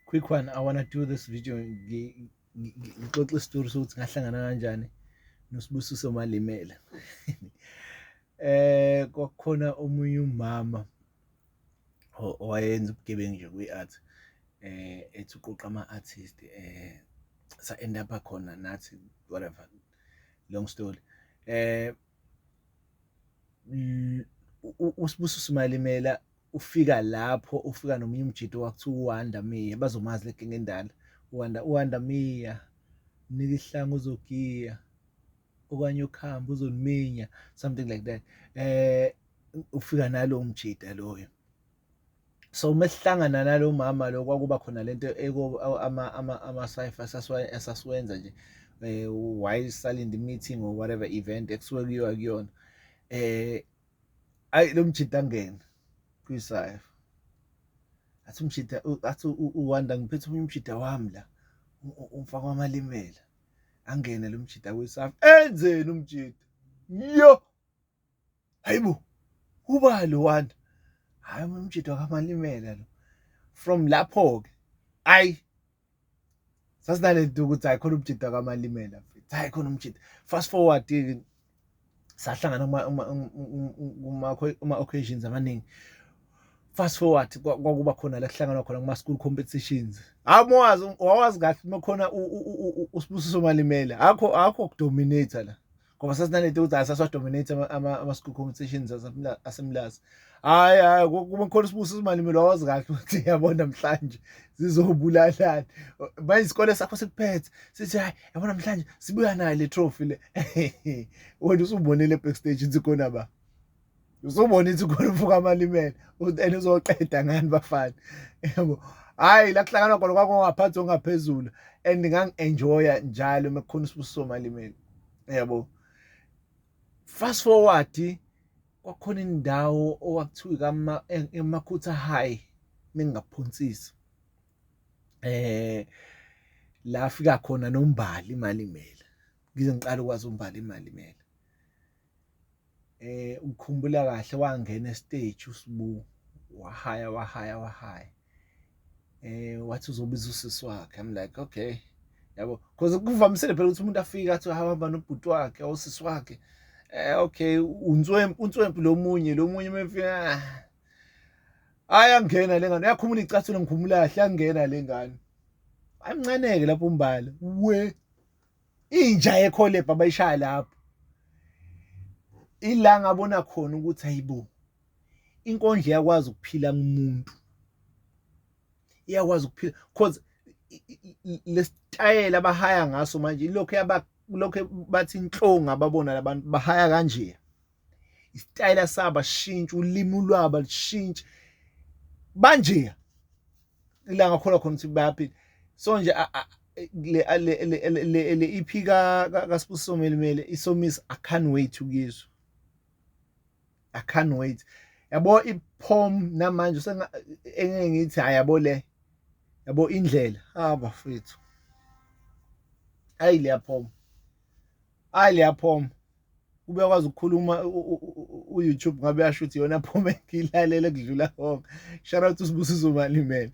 quick one i wanna do this video ngixoxe isitori sokuthi ngahlangana kanjani nosibusiso malimela eh kwakukhona omunye umama owayenza ubugebengu nje kwi-art eh ethi uqoqa ama-artist eh sa end up khona nathi whatever long story eh usibusiso malimela ufika lapho ufika nomunye umjito wakuthiwa uwanda miya bazomazi legenge endala uwanda uwanda miya mnika ihlanga uzogiya okanye ukhamba uzoniminya something like that eh ufika nalo mjita loyo so uma sihlangana nalo mama lo kwakuba khona lento ama ama ama cipher sasiwenza nje eh why silent meeting or whatever event ekusuke kuyiwa kuyona eh ayi lo mjita angene kwisayo athi umjita athi uwanda ngiphethe omunye umjita wami la umfaka wamalimela angene lo mjita kwisafa enzeni umjita yo hayibo uba lo wanda hayi umjita wamalimela lo from lapho-ke ayi sasinale nto ukuthi hayi khona umjita kamalimela mfethu hayi khona umjita fast forward sahlangana kuma-occasions amaningi fast forward kwakuba khona la kuhlanganwa khona kuma-school competitions hayi mawazi wawazi kahle uma khona usibusiso malimela akho akho kudominate la ngoba sasinalento ukuthi asasiwadominate ama-school competitions asemlazi hhayi hhayi kuba khona usibuso uzimalimile wawazi kahle ukuthi yabo namhlanje zizobulalani manje isikole sakho sikuphethe sithi hhayi yabo namhlanje sibuya nayo le trophy le wena usubonile backstage ukuthi khona ba usubona ithi khona ufuka amalimele and uzoqeda ngani bafana yebo hayi la kuhlanganwa khona kwakungaphansi ongaphezulu and ngangi-enjoya njalo uma kukhona usibusiso malimele yebo fast forward kwakhona indawo owakuthiwa emakhutha high ningaphonsisi eh la fika khona nombali imali imele ngize ngiqala ukwazi umbali imali imele eh ukukhumbula kahle wangena estage uSbu wahaya wahaya wahaya eh wathi uzobiza usisi wakhe i'm like okay yabo because kuvamisile phela ukuthi umuntu afike athi hamba nobhuti wakhe osisi wakhe eh okay unswempu unswempu lomunye lomunye mefika ah. ayangena lengane uyakhumula icathulo ngikhumula kahle yangena lengane ayimncane ke lapho umbala we inja yekholebha bayishaya lapho ila ngabona khona ukuthi ayibo inkondla iyakwazi ukuphila kumuntu iyakwazi ukuphila because lesitayela abahaya ngaso manje ilokho yaba lokho bathi inhlonga babona labantu bahaya kanje isitayela saba sishintshe ulimi lwaba lishintshe banje ila ngakholwa khona ukuthi bayaphila so nje le EP ka kaSibusiso Melimele isomisa i can't wait ukuyizwa i can't wait yabo iphom namanje engeke ngithi ayabo le yabo indlela ah bafethu ayi leyaphoma hayi liyaphoma kube kwazi ukukhuluma u-youtube ngabe yasho ukuthi yona phome ngilalele kudlula konke shout out usibusiso malimele